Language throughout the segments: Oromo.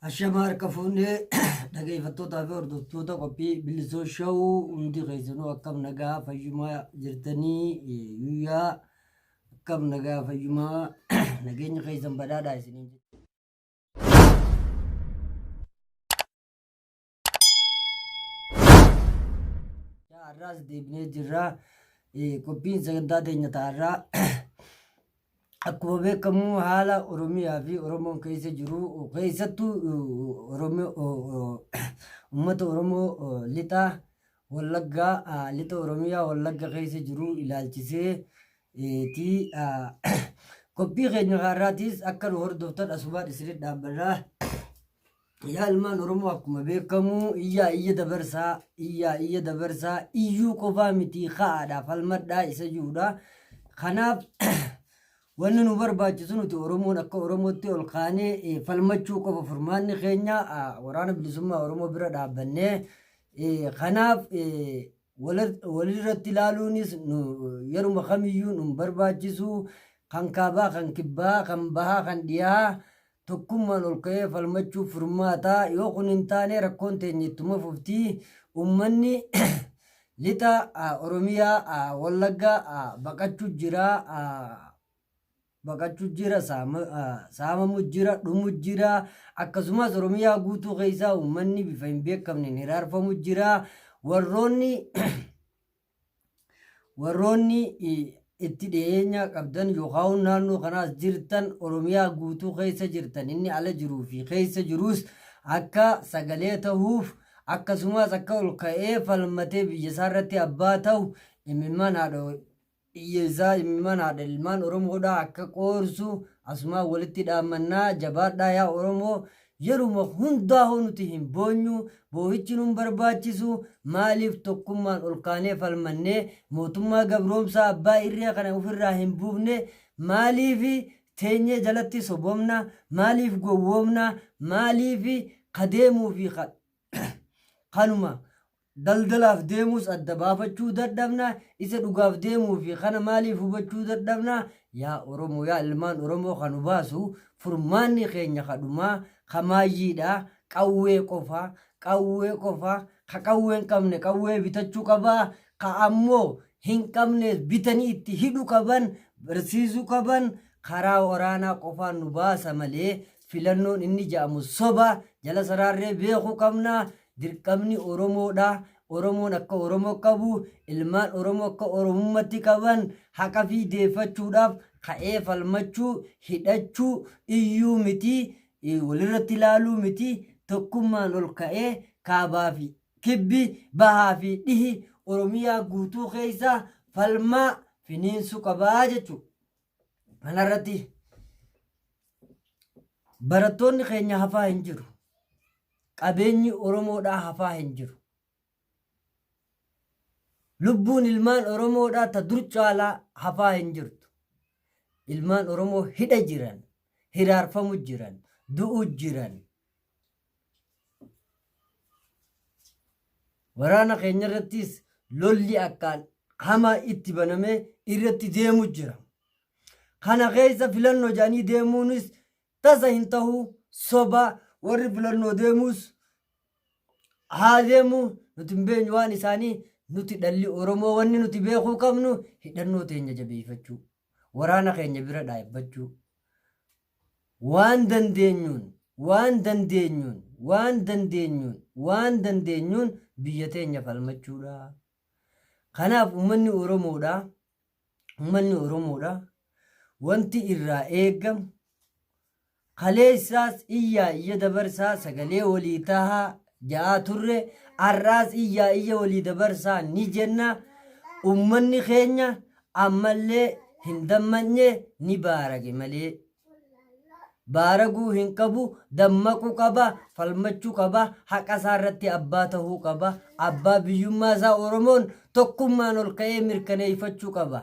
Ashama harka fuunee dhageeffattootaa fi hordoftoota qophii bilisoo shawuu hundi keessanuu akkam nagaa fayyumaa jirtanii guyyaa akkam nagaa fayyumaa nageenya keessan badhaadhaa isiniin Har'aas deebinee jirra. Qophiin sagantaa teenya ta'arraa akkuma beekamu haala Oromiyaa fi Oromoon keessa jiru keessattuu uummata Oromoo lixa Wallaggaa lixa Oromiyaa Wallagga keessa jiru ilaalchisee ti. Qophii keenya har'aatiis akka nu hordoftan asumaan isinitti dhaammanna. Yaa ilmaan Oromoo akkuma beekamu iyyaa iyya dabarsaa iyyaa iyya dabarsaa iyyuu qofaa mitii ka'aadhaa falmadhaa isa jiruudha. Kanaaf wanni nu barbaachisu nuti Oromoon akka Oromootti ol kaanee eh, falmachuu qofa furmaanni keenya ah, waraana bilisummaa Oromoo bira dhaabbannee eh, kanaaf eh, wala- walirratti ilaaluunis nu yeruma kamiyyuu nu hin barbaachisu kan kaabaa kan kibbaa kan bahaa kan dhiyaa Tokkummaan ol ka'ee falmachuuf furmaata. Yoo kun hin taane rakkoon teenya ittuma fufti. Ummanni lixa Oromiyaa Wallagga baqachu jira. Baqachu jira, saamamu jira, dhumu jira. Akkasumas Oromiyaa guutuu keessaa ummanni bifa hin beekamneen hiraarfamu jira. Warroonni Warroonni itti dhiyeenya qabdan yookaan naannoo kanaas jirtan Oromiyaa guutuu keessa jirtan inni ala jiruu fi keessa jiruus akka sagalee tahuuf akkasumas akka ol ka'ee falmatee biyya isaa irratti abbaa tahu imimmaan haadha biyya isaa imimmaan haadha ilmaan Oromoodhaa akka qoorsu asumaan walitti dhaammannaa jabaadhaa yaa Oromoo Yeruma hundaa hoo nuti hin boonyuu, boohichi nun barbaachisuu, maaliif tokkummaan ol kaanee falmannee mootummaa gabroomsaa abbaa irree kana ufirraa hin buufne, maaliif teenyee jalatti sobomna, maaliif gowwoomna, maaliif ka deemuu fi ka kanuma Daldalaaf deemuus adda baafachuu dadhabna, isa dhugaaf deemuu fi kana maaliif hubachuu dadhabna? Yaa Oromoo, yaa ilmaan Oromoo ka nu baasu furmaanni keenya ka dhumaa, ka maayyii dha, qawwee qofa, qawwee qofa, ka qawwee hin qabne qawwee bitachuu qaba, ka ammoo hin qabnees bitanii itti hidhu qaban, barsiisu qaban, karaa waraanaa qofaan nu baasa malee Filannoon inni ja'amu soba, jala saraarree beeku qabna. Dirqamni Oromoodha. Oromoon akka Oromo qabu, ilmaan Oromo akka Oromummatti qaban haqafii deeffachuudhaaf ka'ee falmachuu, hidhachuu, iyyuu miti, walirratti laaluu miti, tokkummaan ol ka'ee kaabaa fi kibbi, bahaa fi dhihi Oromiyaa guutuu keessa falmaa finiinsu qaba jechuu. Kanarratti barattoonni keenya hafaa hin jiru. Qabeenyi Oromoodhaa hafaa hin jiru. Lubbuun ilmaan Oromoodhaa ta dur caalaa hafaa hin jirtu. Ilmaan Oromoo hidha jiran, hiraarfamu jiran, du'u jiran. Waraana keenya irrattis lolli akkaan hamaa itti banamee irratti deemu jira. Kana keessa filannoo jedhanii deemuunis tasa hin tahu soba warri filannoo deemuus haa deemu nuti hin beenyu waan isaanii nuti dhalli Oromoo wanni nuti beekuu qabnu hidhannoo teenya jabeeffachuu waraana keenya bira dhaabbachuu Waan dandeenyuun waan dandeenyuun waan dandeenyuun waan dandeenyuun biyya teenya falmachuudha. Kanaaf ummanni Oromoodhaa ummanni Oromoodhaa wanti irraa eegamu kaleessaas iyyaa iyya dabarsaa sagalee walii tahaa ja'aa turre har'aas iyyaa iyya walii dabarsaa ni jenna ummanni keenya ammallee hin dammaqne ni baarage malee baaraguu hin qabu dammaquu qaba falmachuu qaba haqa isaa irratti abbaa tahuu qaba abbaa biyyummaa isaa oromoon tokkummaan ol ka'ee mirkaneeffachuu qaba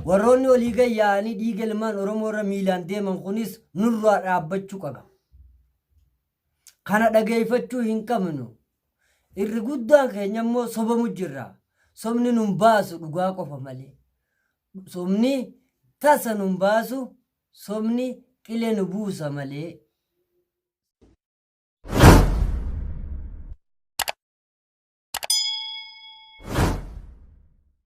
Warroonni olii gad yaa'anii dhiiga ilmaan Oromoo irra miilaan deeman kunis nurraa dhaabbachuu qaba. Kana dhageeffachuu hin qabnu. Irri guddaan keenya immoo sobamu jirra. Sobni nun baasu dhugaa qofa malee. Sobni tasa nun baasu, sobni qilee nu buusa malee.